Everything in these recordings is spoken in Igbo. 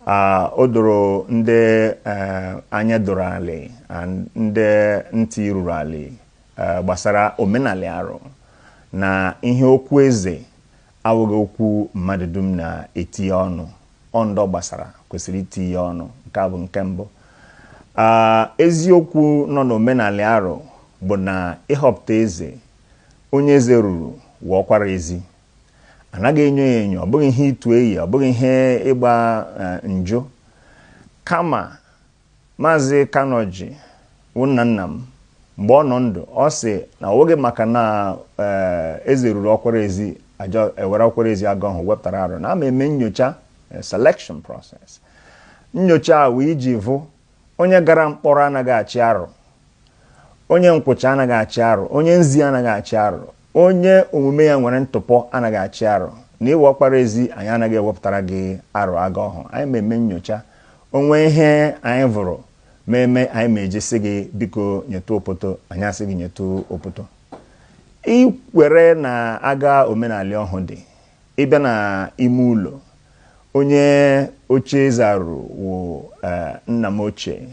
Ah, o doro ndị eh, anya doro alị and ndị ntị ruru alị eh, gbasara omenalị arụ na ihe okwu eze awụghị okwu mmadụ dum na-etinye ọnụ ọ ndị ọ gbasara kwesịrị itinye ọnụ nke a bụ nke mbụ Ah, eziokwu nọ n'omenalị arụ bụ na ịhọpụta eze onye eze ruru wụ ọkwara ezi anaghị enyo ya enyo ọ bụghị ihe ịtụ eyi ọ bụghị ihe ịgba eh, njụ kama maazị Kanu Oji wụ nna nna m mgbe ọ nọ ndụ ọ sị na ọ wụghị maka na eh, eze ruru ọkwara ezi ajọ ewere ọkwara ezi aga ahụ wepụtara arụ na a ma eme nyocha eh, selection process nyocha a wee iji vụ Onye gara mkpọrọ anaghị achị arụ. Onye nkwụcha anaghị achị arụ. Onye nzi anaghị achị arụ. Onye omume ya nwere ntụpọ anaghị achị arụ. Na ịwụ ọkpara ezi, anyị anaghị ewepụtara gị arụ aga ọhụ. Anyị ma eme nyocha. O nwee ihe anyị vụrụ ma eme, anyị ma eji sị gị biko nyetụ opoto, anyị asị gị nyetụ opoto. I kwere na aga omenalị ọhụ dị. ị bịa na ime ụlọ onye oche eze a ruru wụ eh, nna m ochie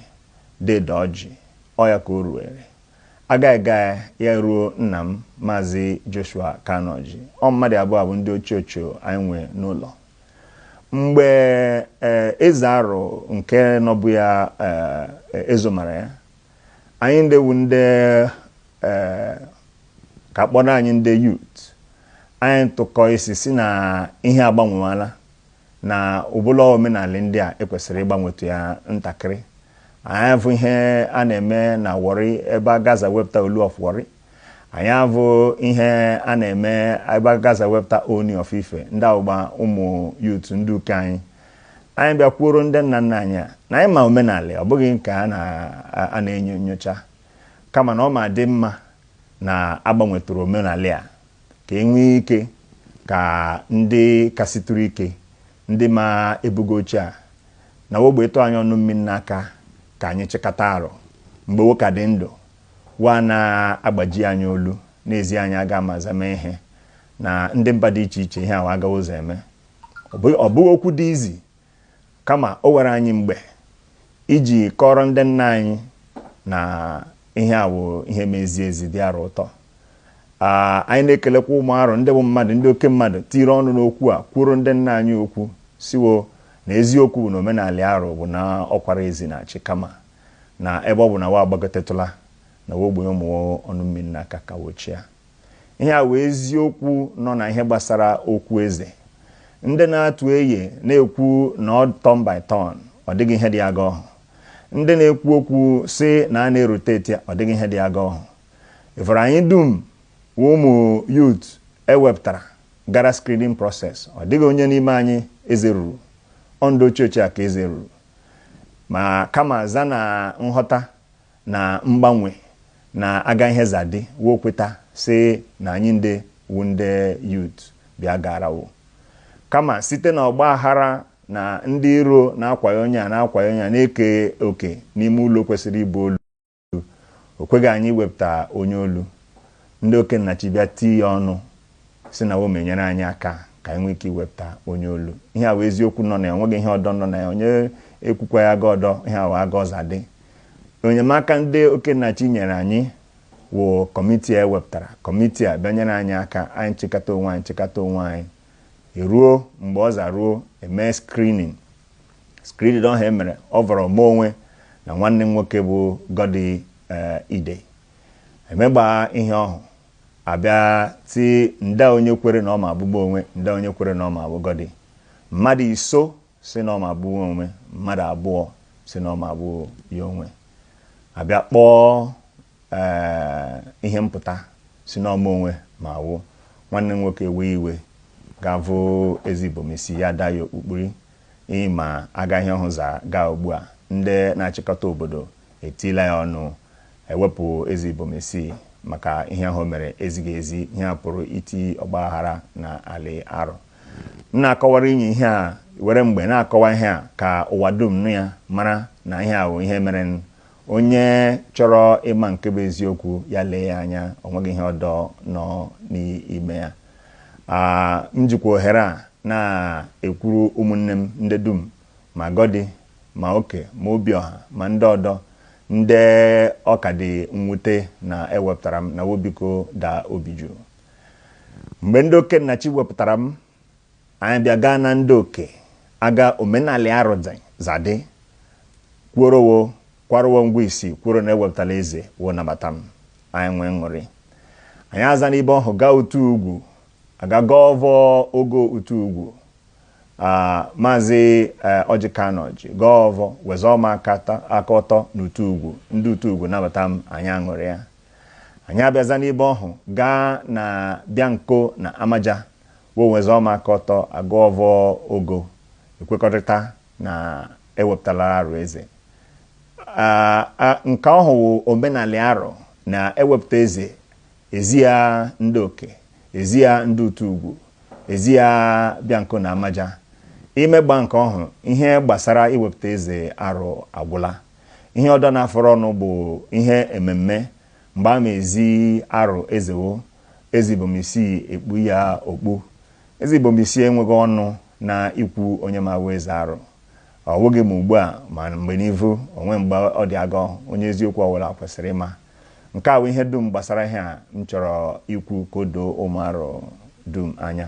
dede ọjị ọ ya ka o ruere a gaa gaa ya ruo nna m maazị joshua kanu oji ọ mmadụ abụọ a bụ ndị ochie ochie anyị nwe n'ụlọ mgbe eh, eze arụ nke nọbụ ya eh, ezomara ya anyị ndị wu ndị eh, ka kpọrọ anyị ndị youth anyị tụkọ isi sị na ihe agbanwewala na ụbụla ọ wụ omenalị ndị a e kwesịrị ịgbanwetu ya ntakịrị anyị avụ ihe a na-eme na warri ebe aga aza wepụta olu of warri anyị avụ ihe a na-eme ebe aga aza wepụta ooni of ife ndị wụgba ụmụ youth ndị uke anyị anyị bịa kwuoro ndị nna nna anyị a na anyị ma omenalị ọ bụghị nke a na-enyo nyocha kama na ọ ma dị mma na a gbanwetụrụ omenalị a ka e nwee ike ka ndị kasịtụrụ ike ndị ma ebugo oche a na wo gbe ịtụ anyị ọnụ mmiri n'aka ka anyị chịkọta arụ mgbe wo ka dị ndụ Wa na-agbaji anyị olu, na-ezi anyị aga ama aza mee ihe na ndị mba dị iche iche ihe a wụ aga aza eme. Ọ bụ- Ọ bụghị okwu dị easy kama o were anyị mgbe iji kọrọ ndị nna anyị na ihe a wụ ihe mezie ezi dị arụ ụtọ Ah, anyị na-ekelekwa ụmụ arụ ndị bụ mmadụ ndị oke mmadụ tiri ọnụ n'okwu a kwuoro ndị nna anyị okwu sị wo na eziokwu bụ na omenalị arụ bụ na ọkwara ezi na-achị kama na ebe ọ bụ na wa agbagotetụla na wa ogbenye ụmụ ọnụ mmiri na aka ka wo chịa. Ihe a wụ eziokwu nọ na ihe gbasara okwu eze. Ndị na-atụ eye na-ekwu na ọ turn by turn, ọ dịghị ihe dị aga ọhụ. Ndị na-ekwu okwu sị na a na-erotate, ọ dịghị ihe dị aga ọhụ. Ị vụrụ anyị dum wụ ụmụ youth e wepụtara gara screening process, ọ dịghị onye n'ime anyị eze ruru. Ọ ndị ochie ochie a ka eze ruru. ma kama za na nghọta na mgbanwe na aga ihe za dị wo kweta sị na anyị ndị wụ ndị youth bịa gara wo kama site na ọgba aghara na ndị iro na-akwayo onye a na-akwayo onye a na-eke oke n'ime ụlọ kwesịrị ịbụ olu o kweghị anyị iwepụta onye olu ndị okennachi bịa tii ya ọnụ sị na wo ma enyere anyị aka ka anyị nwee ike iwepụta onye olu ihe a wụ eziokwu nọ na ya onweghị ihe ọdọ nọ na ya onye ekwukwa ya aga ọdọ ihe a wụ aga ọ za dị enyemaka ndị okennachi nyere anyị wụ kọmitii a ewepụtara kọmitii a bịa nyere anyị aka anyị chịkọta onwe anyị chịkọta onwe anyị eruo mgbe ọ za ruo e mee screening Screening ọhụ e mere ọ vọrọ mụ onwe na nwanne m nwoke bụ Gọdi eh, Idei. Emegbaa ihe ọhụ, abịa ti nda onye kwere na ọ ma abụ mụ onwe, nda onye kwere na ọ ma abụ Gọdi. Mmadụ iso sị na ọ ma abụ mụ onwe, mmadụ abụọ sị na ọ ma abụ ya onwe. Abịa kpọọ Ee, ihe mpụta sị na ọ mụ onwe ma awụ nwanne m nwoke ewe iwe gaa vụ Eze Ibom Isii ya daa ya okpu kpuri ya ma aga ihe ọhụ za gaa ugbu a ndị na-achịkọta obodo etiila ya ọnụ ewepụ Eze Ibom Isii maka ihe ahụ o mere ezighị ezi ihe a pụrụ iti ọgba aghara na alị Arọ m na-akọwara inye ihe a were mgbe na-akọwa ihe a ka ụwa dum nụ ya mara na ihe a wụ ihe mere Onye chọrọ ịma nke bụ eziokwu, ya lee ya anya, o nweghị ihe ọdọ nọ n'ime ya. M jikwa ohere a na-ekwuru ụmụnne m ndị dum, ma Gọdi, ma Oke, ma Obiọha, ma ndị ọdọ, ndị ọ ka dị mwute na e wepụtara m, na wo biko daa obi jụụ. Mgbe ndị Okennachi wepụtara m, Anyị bịa gaa na ndị oke aga omenalị Arọ si za dị kwuoro wo kwara wo ngwa isi kwuoro na ewepụtala eze wo nabata m anyị nwee ṅụrị anyị aza n'ibe ọhụ gaa Utughugwu aga gaa vụ ogo Utughugwu Ah, maazị eh, Ọjị Kanụ Ọjị gaa vụ wezuo m aka ta- aka ọtọ n'Utughugwu ndị Utughugwu nabata m anyị aṅụrịa anyị abịaza n'ibe ọhụ gaa na Bịanko na Amaja Wowezoma Kọtọ Agụọvọ Ogo ekwekọrịta na e wepụtala Arụ eze. Aa nke ọhụ wụ omenalị Arụ na e wepụta eze, e zi ya ndị Oke, e zi ya ndị Utughugwu, e zi ya Bịanko na Amaja. I megbaa nke ọhụ ihe gbasara iwepụta Eze Arụ agwụla. Ihe ọdọ na-afọrọnụ bụ ihe ememme. Mgbe a ma-ezi Arụ eze wo, Eze Ibom Isii ekpu ya okpu. Eze Ibom Isii enweghị ọnụ na ikwu onye ma-awụ Eze Arụ. Ọ wụghị ma ugbu a ma mgbe n'ivu, o nwee mgbe ọ dị agọ, onye eziokwu ọ wụla kwesịrị ịma. Nke a wụ ihe dum gbasara ihe a m chọrọ ikwu ka o doo ụmụ Arụ dum anya.